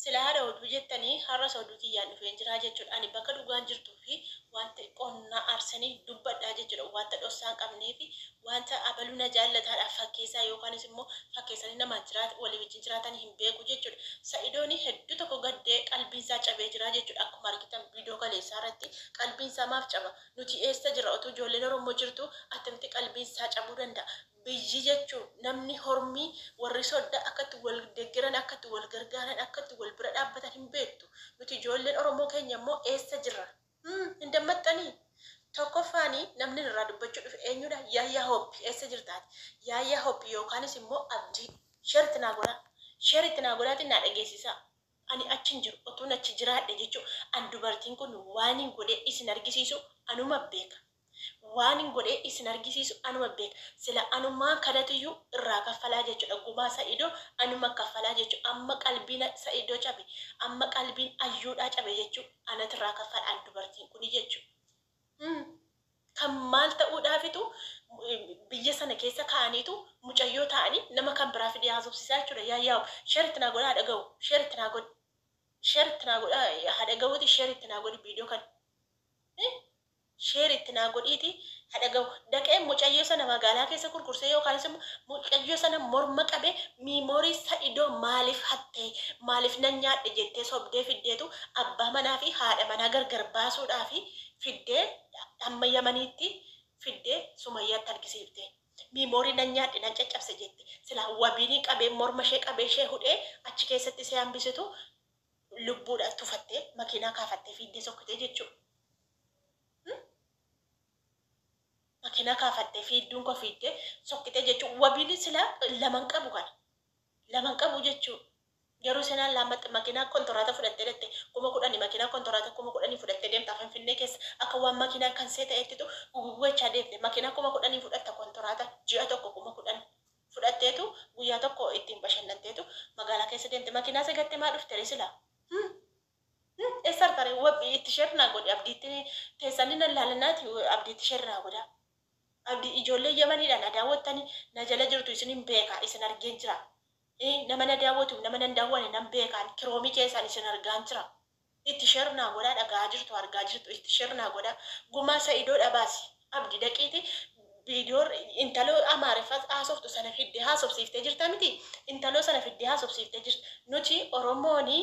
Sila hara oduu jettani harras oduu kiyyaan dhufeen jiraa jechudha ani bakka dhugaan jirtuu fi wanta xiqqoon na arsanii dubbadhaa jechudha wanta dhossaa hin qabnee fi wanta abaluu na jaallataadha fakkeessaa yookaanis immoo fakkeessanii namaa jiraata walii wajjin jiraatani hin beeku jechudha sa'idooni hedduu tokko gaddee qalbiin isaa cabee jiraa jechudha akkuma argitan viidiyoo kaleessaa irratti qalbiin isaa maaf caba nuti eessa jirra otuu ijoolleen orommoo jirtuu attamitti qalbiin isaa cabuu danda'a Biyyi jechuun namni hormii warri sodda akka itti wal deggeran akka itti wal gargaaran akka itti wal bira dhaabbatan hin beektu nuti ijoolleen oromoo keenya immoo eessa jirra hum hin dammaxxanii tokkoffaani namni ani irraa dubbachuu dhufe eenyuudha yaayyaa hooppi eessa jirta ati yaayyaa hooppi yookaanis immoo abdii sher itti naa godhaa sher itti naa godhaatii naa dhageessisaa Ani achi hin jiru. Otuun achi jiraadhe jechu an dubartiin kun waanin godhee isin argisiisu anuma beeka. Waanin godhee isin argisiisu anuma beeka. Sila anumaan kanatuyyuu irraa kaffalaa jechudha. Gumaa Sa'idoo anuma kaffalaa jechu. Amma qalbiin Sa'idoo cabe. Amma qalbiin Ayyuudhaa cabe jechu. Anatu irraa kaffala an dubartiin kun jechu. N kan maal ta'uudhaafitu biyya sana keessa ka'aniitu mucayyoo taa'anii nama kan biraa fidee haasofsiisaa jechuudha yaa yaa'u share itti naa godhaa haa dhaga'u share itti naa godhi share itti naa godhaa haa dhaga'uuti share itti naa godhi video kana share itti naa godhiiti haa dhaga'u dhaqee mucayyoo sana magaalaa keessa kurkursee yookaanis immoo mucayyoo sana morma qabee miimoorii sa'idoo maaliif hatte maaliif nan nyaadhe jettee sobdee fiddeetu abbaa manaa fi haadha manaa gargar baasuudhaaf fiddee amma yamaniitti fiddee sumayyaatti argisiifte miimoorii nan nyaadhe nan caccabse jette silaa wabiinii qabee morma ishee qabee ishee hudhee achi keessatti ishee hambisitu lubbuudha tufattee makiinaa kaafattee fiiddee sokkitee jechuudha. Makina kafadhe fiiddun ko fiidde sokkite jechu wabili sila lama hin qabu kana lama hin qabu jechu garu ishen allammatte makina kontorata fudhatte dhaqxe kuma kudhani makina kontorata kuma kudhani fudhatte demta finfinne kessa akka wan makina kanse ta'ettitu guguguecha demte makina kuma kudhani fudhatta kontorata ji'a tokko kuma kudhan fudhattetu guyya tokko ittin bashannantetu magala kessa demte makina se gatte maa dhuftere sila hum. Him essa artare wab itti sher naa godhi abdi itti tesani nan lala nati abdi itti sher naa godha abdi ijole yamani dha na dawatani na jala jirtu isinin beka isin argen jira i nama na dawatuf nama nan dawane nan beka an kiromi kesan isin argan jira itti sher naa godha dhagaha jirtu arga jirtu itti sher naa godha guma saido dha basi Abdi daqiiti video intalo amariffa hasoftu sana fidde hasofsifte jirta miti intalo sana fidde hasofsifte jirta nuti oromoni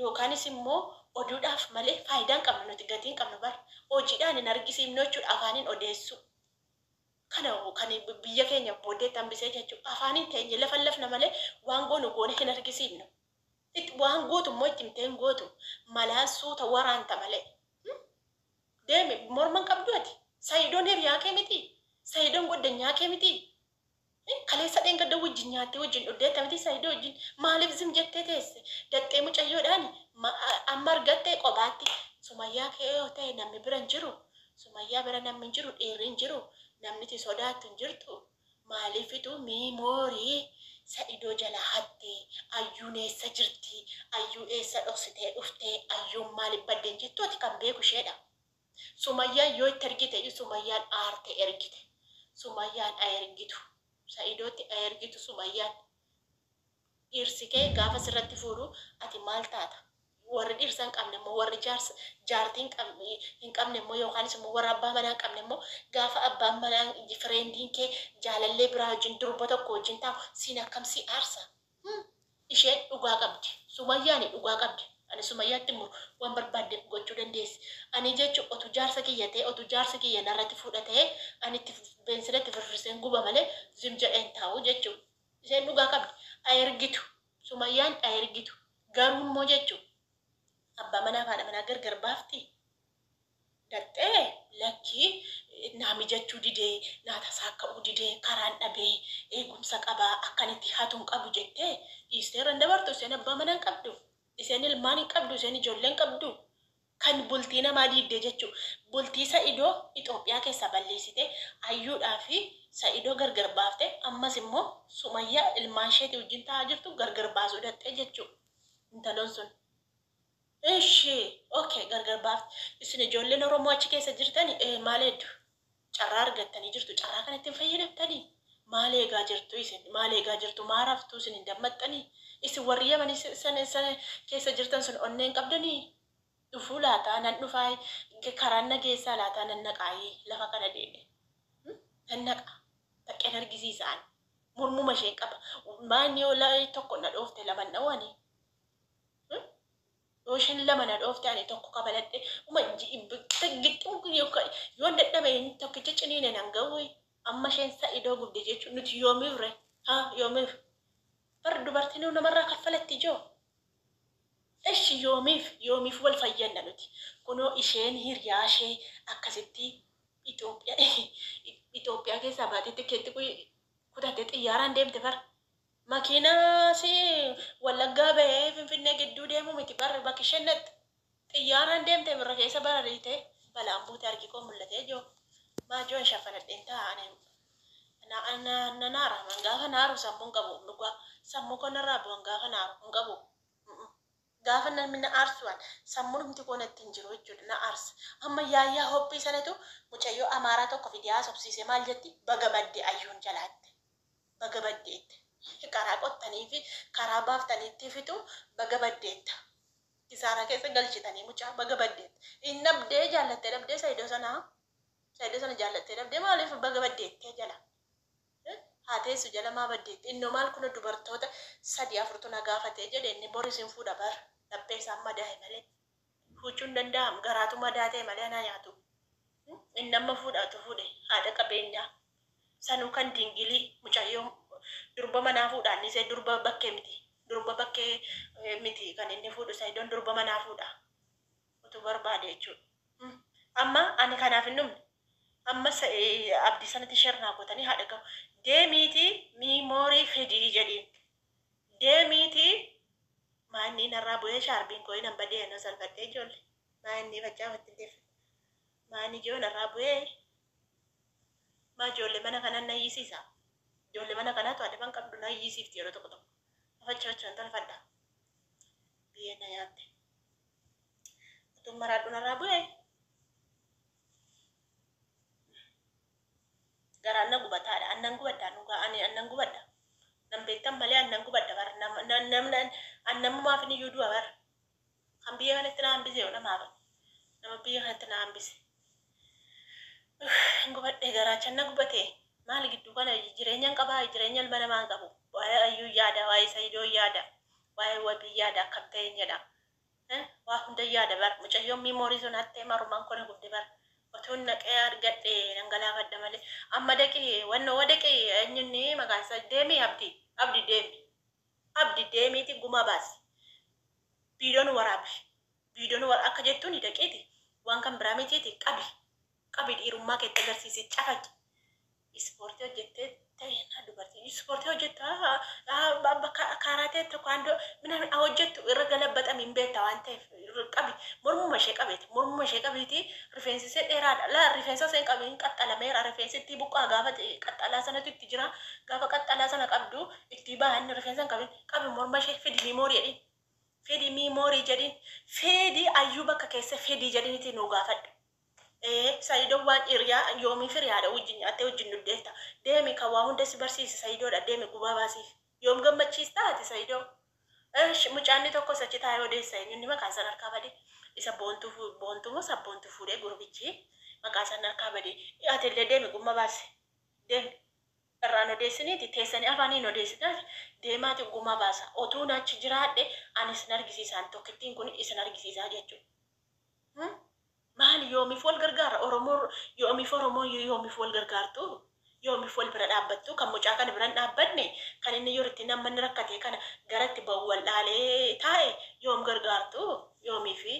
yokanis immo odudhaf male fayida hin qabnu nuti gati hin qabnu bar hojidhan hin argisifnu jechudha afanin odessu kana kan biyya kenya bodetti hanbise jechu afanin tenye lafallafna male wan gonu gone hin argisifnu it wan gotu immo itti himte hin gotu malan suta waranta male Deemi morma hin qabduu ati? Saidon hiriyaa kee mitii? Saidon goddanyaa kee mitii? Hin kaleessa dheengadda wajjin nyaattee wajjin dhuddeetta mitii Saido wajjin? Maaliif zim jettee teesse? Daxxee mucayyoodhaani ma amma argatte qobaatti Sumayyaa kee yoo ta'e namni bira hin jiru? Sumayyaa bira namni hin jiru dhiirri hin jiru? Namni iti sodaattu hin jirtu? Maalifituu memory sa'idoo jalaa hattee ayyuun eessa jirti ayyuu eessa dhoksitee dhuftee ayyuun maalif badde hin jettu ati kan beeku isheedha sumayyaan yoo itti ergite iyyuu sumayyaan aarte ergite sumayyaan aergitu sa'idootti aergitu sumayyaan Dhirsi kee gaafa sirratti fuudhu ati maal taata? Warri dhirsa hin qabne immoo, warri jaarsa, jaartii hin qab, hin qabne immoo yookaanis immoo warra abbaa manaa hin qabne immoo gaafa abbaan manaa, fireendiin kee jaalallee biraa wajjin, durba tokko wajjin taa'u siin akkam si aarsa? Hum! Isheen dhugaa qabdi. Sumayyaani dhugaa qabdi. Ani Sumayyaatti hin muru. Waan barbaadde gochuu dandeessi. Ani jechu otuu jaarsa kiyya ta'ee, otuu jaarsi kiyya narratti fuudha ta'ee, ani itti beensila itti firfirseen guba malee zim jedhee hin taa'u jechuudha. Isheen dhugaa qabdi a ergitu sumayyaan a ergitu garuu immoo jechu abbaa manaaf haadha manaa gargar baaftii? Daxxee lakkii naa mijachuu didee naa tasaakka'uu didee karaan dhabee eegumsa qaba akkan itti hatu hin qabu jettee dhiistee irra hin dabartu isheen abbaa manaa hin qabdu isheen ilmaan hin qabdu isheen ijoollee hin qabdu Kan bultii namaa diigde jechu. Bultii sa'ido Ethiopia kessa balleessite Ayyuudhaa fi sa'ido gargar baafte ammas immo sumayya ilmaan isheeti wajjin ta'aa jirtu gargar baasuu daxxe jechu intalon sun Ishi ok gargar baafte isin ijoolleen oromoo achi kessa jirtani ee maal heddu Carraa argattanii jirtu. Carraa kanatti hin fayyadamtanii? Maal eegaa jirtu isin? Maal eegaa jirtu? Maa raftuu isin hin dammaxxanii? Isin warri Yamanii san san keessa jirtan sun onnee hin qabdanii? Dhufuu laataa? Nan dhufaa? Karaan na geessaa laataa? Nan naqaayii? Lafa kana deemee. Nan naqa. Baqqeen argisiisa ani. Mormuma isheen qaba. Maa inni yoo tokko na dhoofte laman dhawanii? Yoo ishen lama na dhoofte ani tokko kafaladhe uma gixximu kun yoon dadhabe inni tokkichi ciniine nan ga'uu amma isheen sa'idoo gubde jechuun nuti yoomiif re ha yoomiif bar dubartinuu namarraa kaffalatti ijoo eshi yoomiif yoomiif wal fayyanna nuti kunoo isheen hiriyaa ishee akkasitti Itoophiyaa Itoophiyaa keessaa baatee tikkeetti kutattee xiyyaaraan deemte bar Makiinaa si wallaggaa bahee finfinnee gidduu deemu miti bar bakki isheen dhaqxe. Xiyyaaraan deemte birra keessa barariite balaan buute harki koo mul'atee joo maa joo hin shaffanadheen taa'a ani na na nan aara man gaafa na aaru sammuu hin qabu dhugaa sammuu koo narraa bu'an gaafa na aaru hin qabu gaafa namni na aarsu an sammuu dhumti koo natti hin jiru jechuudha na aarsa amma yaayyaa hoppii sanatu mucayyoo amaaraa tokko fidee haasofsiisee maal jetti baga badde ayyuun jalaatte baga baddeette hi karaa qottaniifi karaa baaftaniittii fixu baga baddeetta kisaaraa keessa galchitanii mucaa baga baddeetta hin dhabdee jaallattee dhabdee saidoo sanaa saidoo sana jaallattee dhabdee maaliif baga baddeettee jala haa teessu jala maa baddeetti innoo maal kuno dubartoota sadii afurtu na gaafatee jedhe inni bor isin fuudha bar laphee isaan madaaye malee Fuuchuu hin danda'amu garaatu madaa ta'e malee anaa nyaatu inni amma fuudhaatu fuudhe haadha qabeenyaa sanuu kan dingilii mucayyoo durba manaa fuudhaan isee durba bakkee miti durba bakkee miti kan inni fuudhu sayidoon durba manaa fuudha utuu barbaade jechuudha. Amma ani kanaaf hin dhumne amma abdii sanatti sher naa gootanii haadha gahu deemiitii miimoorii fidii jedhiin Deemiiti maa innii narraa bu'ee shaarbiin koo inan badee anoo salfadhee ijoolle maa innii faccaa watti hin deeffadhu maa inni ijoo narraa bu'ee maa ijoolle mana kanan na iyyisiisa ijoolle mana kanaatu adaban qabdu na iyyisiifti yeroo tokko tokko ma fachi fachuun tolfadha biyee na yaatte utuun maraadhu narraa bu'ee garaan na gubataa dha an nan gubadhaa dhugaa ani an nan gubadha nan beektan malee an nan gubadha bar nam nam nam nan an namumaafi ni yuuduu bar kan biyya kanatti na hambise yoo namaa bar nama biyya kanatti na hambise hin gubadhe garaachan na gubatee maali gidduu kana jireenyan qabaa jireenya ilma namaan qabu waa'ee ayyuu yaada waa'ee sayidoo yaada waa'ee wabii yaada akkam ta'een jedha An waa hundan yaada bar mucayyoon memory sun hattee maruman koo na gubde bar otoon naqee argadhe nan galaafadha malee amma daqi wanno wa daqi enyu inni maqaan isaa deemi abdi abdi deemi abdi deemiiti gumaa baasi viidoon waraabi viidoon wara akka jettuuni daqiiti waan kan biraa mitiiti qabi Qabi dhiirummaa keetti agarsiisi cafaqi. Ispoortii hojjettee ta'inaa dubartiin ispoortii hojjettaa bakka kaaraatee tokkaandoo minaamin haa hojjettu irra galabbaxami hin beekta waan ta'eef qabi mormuma ishee qabeeti mormuma ishee qabiiti rifeensi ishee dheeraadha laa rifeensa isheen qabi hin qaxxalameera rifeensi ittii buqqaa gaafa qaxxalaa sanatu itti jira gaafa qaxxalaa sana qabdu ittii baahan rifeensa hin qabin qabi morma ishee fidi miimoorii jedhin fidi miimoorii jedhin fidi ayyuu bakka keessa fidi jedhin itti nuu gaafadhu Ee saidon waan iriyaa yoomii firi haadha wajjin nyaattee wajjin dhuddeetta deemi kan waa hunda si barsiise saidoodha deemi gubaa baasiif yoom gammachiistaa ati saidoo Esh mucaanni tokkos achi taa'ee odeessa eenyunni maqaan san harkaa bade isa boontuu fu boontuu moo sabboontuu fuudhee gurbichi maqaa san harkaa bade ati illee deemi gumma baasi deemi irraan odeessiniiti teessanii afaaniin odeessitaati deemaati gumaa baasa otuun achi jiraadhe ani isin argisiisaan tokkittiin kun isin argisiisaa jechuudha. Maali yoomif wal gargaara oromoo yoomif oromoo yoomif wal gargaartuu yoomif wal bira dhaabbattuu kan mucaa kana biran dhaabbanne kan inni yor itti namma inni rakkatee kana gara itti ba'u wal dhaalee taa'e yoom gargaartuu yoomifi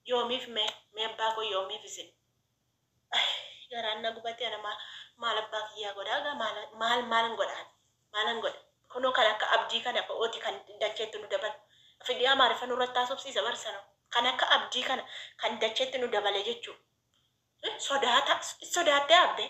yoomif mee mee abbaa koo yoomif isin Ayii garaan na gubatee ana maal maal abbaa kiyyaa godhaa gaa maal maal maalan godha ani maalan godha kunoo kan akka abdii kana bo'ooti kan dacheetti nu dabalu afidii amaariffa nurratti haasofsiisa bar sana kan akka abdii kana kan dacheetti nu dabale jechuu sodaata sodaattee abbee